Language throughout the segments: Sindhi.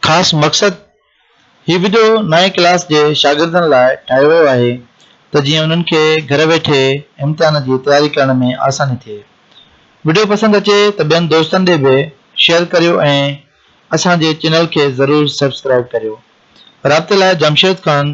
خاص مقصد هي وڊيو نائين ڪلاس جي شاگردن لاء ٺاهيو ويو آهي ته جيئن انهن کي گهر ويٺي امتحان جي تياري ڪرڻ ۾ آساني ٿئي. وڊيو پسند اچي ته ٻين دوستن ڏي به شيئر ڪريو ۽ اسان جي چينل کي ضرور سبسڪرائيب ڪريو. رابطي لاء جمشيد خان.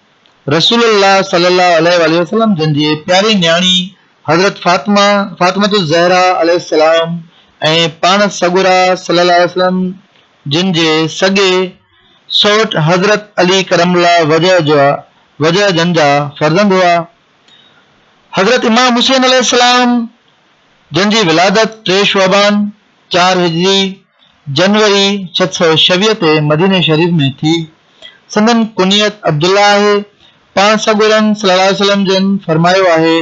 رسول الله صلي الله عليه واٰله وسلم جن جي پياري نياڻي حضرت فاطمه، فاطمة الزهراء، عليه السلام ۽ پاڻ سڳورا صلي الله عليه وسلم جن جي سڳي سؤٽ حضرت علي ڪرم الله وجهه جا وجهه جن جا فرزند هئا. حضرت امام حسين عليه السلام جن جي ولادت ٽي شعبان، چار هجري، جنوري ست سؤ ڇويهه تي مديني شريف ۾ ٿي. سندن ڪنيت عبدالله آهي. پاڻ سڳورن صلي الله عليه وسلم جن فرمايو آهي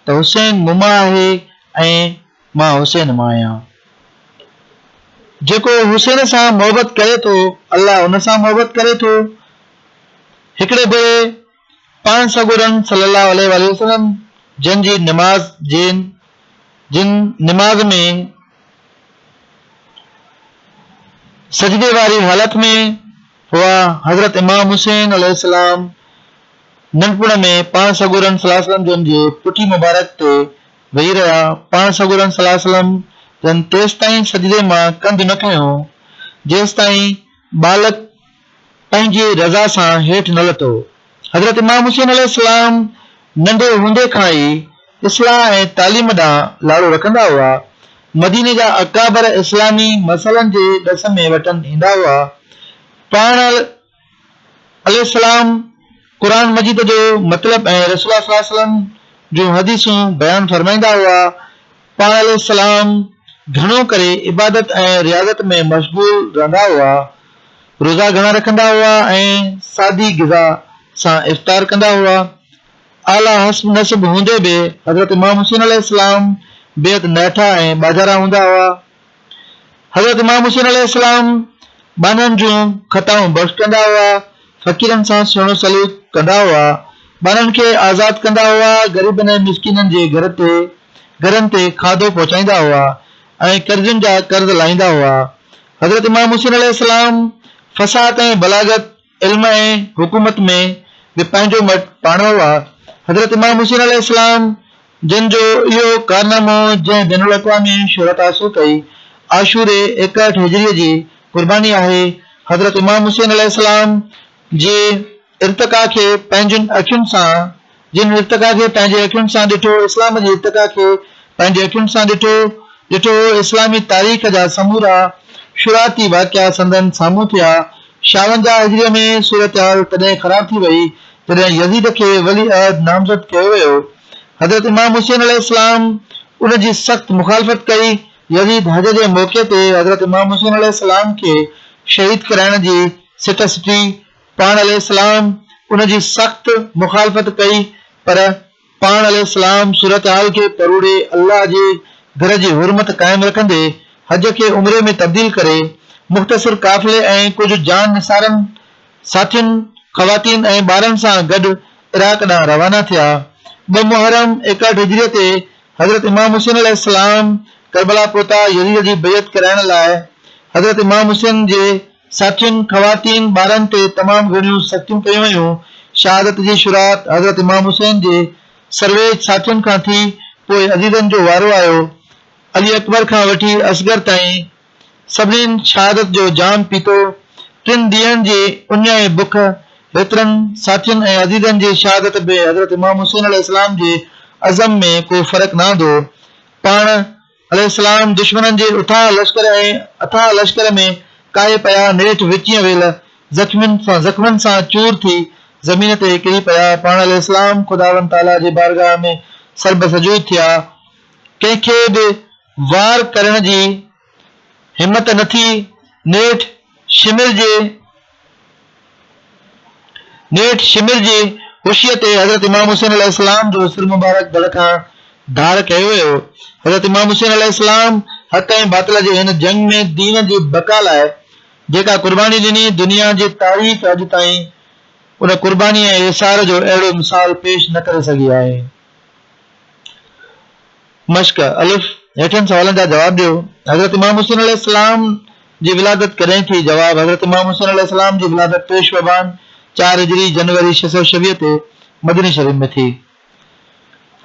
ته حسين مون مان آهي ۽ مان حسين مان آهيان. جيڪو حسين سان محبت ڪري ٿو الله ان سان محبت ڪري ٿو. هڪڙي ڀيري پاڻ سڳورن صلّي اللّٰه عليه واٰله وسلّم جن جي نماز جين جن نماز ۾ سجدي واري حالت ۾ هئا حضرت امام حسين عليه السلام ننڍپڻ ۾ پاڻ سڳورن صلّي اللّٰه عليه وسلّم جن جي پٺي مبارڪ تي ويهي رهيا پاڻ سڳورن صلّي اللّٰه عليه وسلّم جن تيستائين سجدي مان ڪنڌ نه کنيو جيستائين ٻالڪ پنهنجي رضا سان هيٺ نه لٿو. حضرت امام حسين عليه السلام ننڍي هوندي کان ئي اصلاح ۽ تعليم ڏانهن لاڙو رکندا هئا. مديني جا اڪابر اسلامي مسئلن جي ڏس ۾ وٽن ايندا هئا. پاڻ عليه السلام قرآن مجيد جو مطلب ۽ رسول الله صلي الله عليه وسلم جون حديثون بيان فرمائيندا هئا. پاڻ عليه السلام گهڻو ڪري عبادت ۽ رياضت ۾ مشغول رهندا هئا، روزا گهڻا رکندا هئا ۽ سادي غذا سان افطار ڪندا هئا. اعليٰ حسب نسب هوندي به حضرت امام حسين عليه السلام بيحد نهٺا ۽ ٻاجهارا هوندا هئا. حضرت امام حسين عليه السلام ٻانهن جون خطائون بخش ڪندا هئا، فقيرن سان سهڻو سلوڪ ڪندا هئا، ٻانهن کي آزاد ڪندا هئا، غريبن ۽ مسڪينن جي گهر تي گهرن تي کاڌو پهچائيندا هئا ۽ قرضين جا قرض لاهيندا هئا. حضرت امام حسين عليه السلام فصاحت ۽ بلاغت، علم ۽ حڪومت ۾ به پنهنجو مٽ پاڻوو آ. حضرت امام حسين عليه السلام جن جو اهو ڪارنامو جنهن بين الاقوامي شهرت حاصل ڪئي عاشوري ايڪهٺ هجريء جي قرباني آهي حضرت امام حسين عليه السلام جي ارتقا کي پنهنجين اکين سان جن ارتقا کي پنهنجي اکين سان ڏٺو، اسلام جي ارتقا کي پنهنجي اکين سان ڏٺو، ڏٺو هو، اسلامي تاريخ جا سمورا شروعاتي واقعا سندن سامهون ٿيا. شاونجاهه هجريء ۾ صورتحال تڏهن خراب ٿي وئي، جڏهن يزيد کي ولي عهد نامزد ڪيو ويو. حضرت امام حسين عليه السلام ان جي سخت مخالفت ڪئي. يزيد حج جي موقعي تي حضرت امام حسين عليه السلام کي شهيد ڪرائڻ جي سٽ سٽي. پاڻ عليه السلام ان جي سخت مخالفت ڪئي پر پاڻ عليه السلام صورتحال کي پروڙي الله جي گھر جي حرمت قائم رکندي حج کي عمري ۾ تبديل ڪري مختصر قافلي ۽ ڪجھ جان نثارن ساٿين خواتين ۽ ٻارن سان گڏ عراق ڏانهن روانا ٿيا ٻه محرم ايڪهٺ هجريء تي حضرت امام حسين عليه السلام ڪربلا پهتا يزيد جي بيعت ڪرائڻ لاء حضرت امام حسين جي ساٿين، خواتين، ٻارن تي تمام گهڻيون سختيون ڪيون ويون. شهادت جي شروعات حضرت امام حسين جي سرويچ ساٿين کان ٿي، پوء عزيزن جو وارو آيو. علي اڪبر کان وٺي اصغر تائين سڀنين شهادت جو جام پيتو. ٽن ڏينهن جي اڃ ۽ بک هيترن ساٿين ۽ عزيزن جي شهادت ۾ حضرت امام حسين عليه السلام جي عزم ۾ ڪو فرق نه آندو. پاڻ عليه السلام دشمنن جي اٿاهه لشڪر ۽ اٿاهه لشڪر ۾ ڪاهي پيا، نيٺ وچينء ويل زخمين سان زخمن سان چور ٿي زمين تي ڪري پيا، پاڻ عليه السلام خداوند تعاليٰ جي بارگاهه ۾ سربه سجود ٿيا، ڪنهن کي به وار ڪرڻ جي همت نه ٿي، نيٺ شمر جي. نيٺ شمر جي خوشيء تي حضرت امام حسين عليه السلام جو سر مبارڪ ڌڙ کان ڌاڙ ڪيو ويو. حضرت امام حسين عليه السلام حق ۽ باطل جي هن جنگ ۾ دين جي بقا لاء جيڪا قرباني ڏني، دنيا جي تاريخ اڄ تائين ان قرباني ۽ ايثار جو اهڙو مثال پيش نه ڪري سگهي آهي. مشق، الف، هيٺين سوالن جا جواب ڏيو، حضرت امام حسين عليه السلام جي ولادت ڪڏهن ٿي؟ جواب، حضرت امام حسين عليه السلام جي ولادت ٽي شعبان، چار هجري، جنوري ڇهه سؤ ڇويهه تي مديني شريف ۾ ٿي.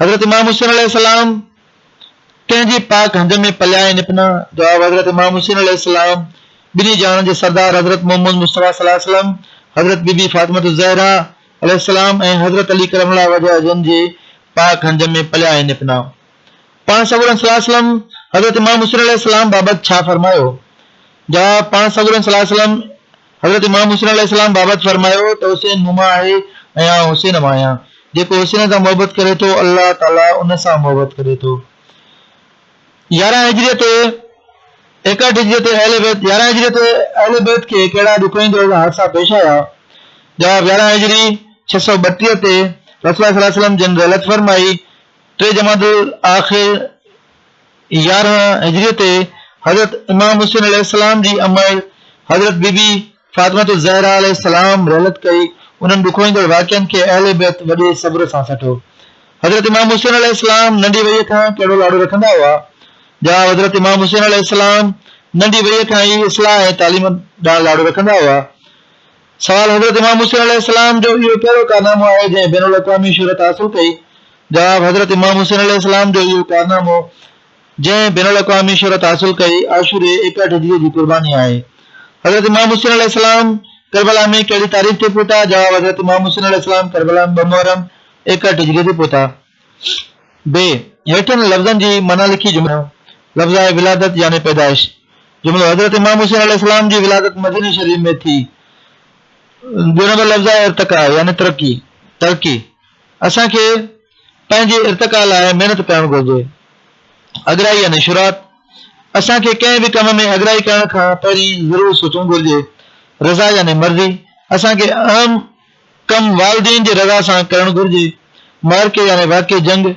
حضرت امام حسين عليه السلام ڪنهن جي پاڪ هنج ۾ پليا ۽ نپنا؟ جواب، حضرت امام حسين عليه السلام ٻنهي جهانن جي سردار حضرت محمد مصطفيٰ صلي الله عليه وسلم، حضرت بي بي فاطمة الزهرا، عليه السلام ۽ حضرت علي ڪرم الله وجهه جن جي پاڪ هنج ۾ پليا ۽ نپنا. پاڻ سڳورن صلي الله عليه وسلم حضرت امام حسين عليه السلام بابت ڇا فرمايو؟ جواب، پاڻ سڳورن صلي الله عليه وسلم حضرت امام حسين عليه السلام بابت فرمايو ته حسين مون مان آهي ۽ آئون حسين مان آهيان، جيڪو حسين سان محبت ڪري ٿو الله تعالي ان سان محبت ڪري ٿو. يارهن هجريء تي ايڪهٺ هجريء تي اهل بيت يارهن هجريء تي اهل بيت کي ڪهڙا ڏکوئين دور جا حادثا پيش آيا؟ جواب، يارهن هجري ڇهه سؤ ٻٽيهه تي رسول الله صلي الله عليه وسلم جن رحلت فرمائي، ٽي جمادي الاخر يارهن هجريء تي حضرت امام حسين عليه السلام جي امڙ حضرت بي بي فاطمة الزهراء عليه السلام رحلت ڪئي، انهن ڏکوئيندڙ واقعن کي اهل بيت وڏي صبر سان سٺو. حضرت امام حسين عليه السلام ننڍي وئيء کان ڪهڙو لاڙو رکندا هئا؟ جواب، حضرت امام حسين عليه السلام ننڍي وئيء کان ئي اصلاح ۽ تعليم ڏانهن لاڙو رکندا هئا. سوال، حضرت امام حسين عليه السلام جو اهو ڪهڙو ڪارنامو آهي جنهن بين الاقوامي شهرت حاصل ڪئي؟ جواب، حضرت امام حسين عليه السلام جو اهو ڪارنامو. جنهن بين الاقوامي شهرت حاصل ڪئي، عاشوري ايڪاٺجيء جي قرباني آهي. حضرت امام حسين عليه السلام ڪربلا ۾ ڪهڙي تاريخ تي پهتا؟ جواب، حضرت امام حسين عليه السلام ڪربلا ۾ ٻه محرم ايڪاٺجيء تي پهتا. بي، هيٺين لفظن جي معنيٰ لکي جملو ٺاهيو. لفظ آهي ولادت يعني پيدائش. جملو، حضرت امام حسين عليه السلام جي ولادت مديني شريف ۾ ٿي. ٻيو نمبر لفظ آهي ارتقا يعني ترقي، ترقي. اسان کي. پنهنجي ارتقا لاء محنت ڪرڻ گهرجي. اڳرائي يعني شھرات. اسان کي ڪنهن به ڪم ۾ اڳرائي ڪرڻ کان پهرين ضرور سوچڻ گهرجي. رضا يعني مرضي. اسان کي اهم ڪم والدين جي رضا سان ڪرڻ گهرجي. معرڪي يعني واقعي جنگ.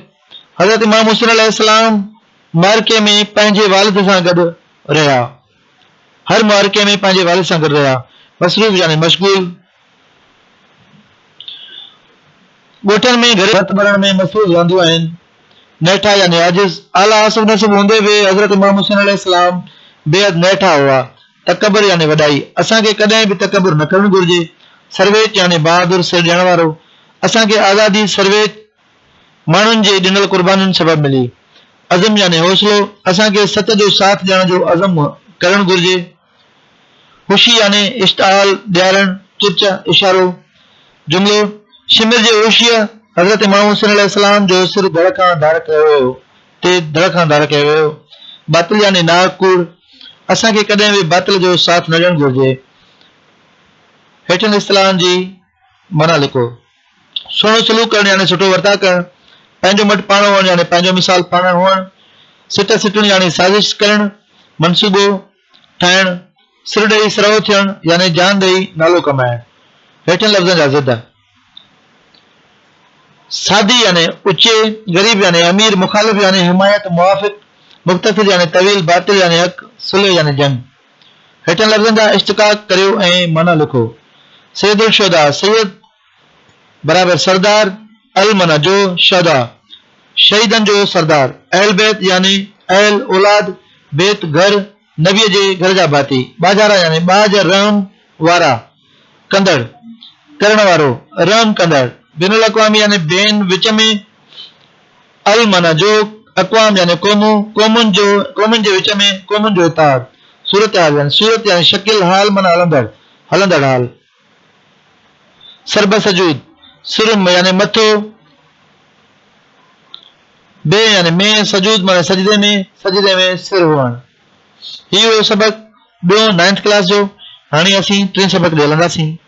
حضرت امام حسين عليه السلام معرڪي ۾ پنهنجي والد سان گڏ رهيا. هر معرڪي ۾ پنهنجي والد سان گڏ رهيا. مصروف يعني مشغول. ڳوٺن ۾ گهريلو ڀت ٻرڻ ۾ مصروف رهنديون آهن. نيٺا يعني عاجز، اعليٰ حسب نسب هوندي به حضرت امام حسين عليه السلام بيحد نيٺا هئا. تڪبر يعني وڏائي، اسان کي ڪڏهن به تڪبر نه ڪرڻ گهرجي. سرويچ يعني بهادر، سر ڏيڻ وارو، اسان کي آزادي سرويچ ماڻهن جي ڏنل قربانين سبب ملي. عزم يعني حوصلو، اسان کي سچ جو ساٿ ڏيڻ جو عزم ڪرڻ گهرجي. هوشي يعني اشتعال، ڏيارڻ، چرچ، اشارو. جملو، شمر جي هوشيء حضرت امام حسين عليه السلام جو سر ڌڙ کان ڌار ڪيو ويو، تي ڌڙ کان ڌار ڪيو ويو. باطل يعني ناحق ڪوڙ. اسان کي ڪڏهن به باطل جو ساٿ نه ڏيڻ گهرجي. هيٺين اصطلاحن جي معنيٰ لکو. سهڻو سلوڪ ڪرڻ يعني سٺو ورتاء ڪرڻ، پنهنجو مٽ پاڻ هئڻ يعني پنهنجو مثال پاڻ هئڻ، سٽ سٽڻ يعني سازش ڪرڻ، منصوبو ٺاهڻ، سر ڏئي سرهو ٿيڻ يعني جان ڏئي نالو ڪمائڻ. هيٺين لفظن جا ضد. سادي يعني اچي، غريب يعني امير، مخالف يعني حمايت، موافق، مختصر يعني طويل، باطل يعني حق، صلح يعني جنگ. هيٺين لفظن جا اشتقاق ڪريو ۽ معنيٰ لکو، سيد الشهداء، سيد برابر سردار، المعنيٰ جو شهداء، شهيدن جو سردار، اهل بيت يعني اهل اولاد، بيت گهر، نبيء جي گهر جا ڀاتي، ٻاجهارا يعني ٻاجھ رحم وارا، ڪندڙ، ڪرڻ وارو، رحم ڪندڙ، بين الاقوامي يعني بين، وچ ۾، المعنيٰ جو اقوام يعني قومون، قومن جو، قومن جي وچ ۾، قومن جو اتحاد. صورتحال يعني صورت يعني شڪل، حال معنيٰ هلندڙ، هلندڙ حال. سربه سجود، سرم يعني مٿو، به يعني ۾، سجود معنيٰ سجدي ۾، سجدي ۾ سر هئڻ. هي هو سبق ٻيون، Ninth Class، جو. هاڻي اسين ٽين سبق ڏي هلنداسين.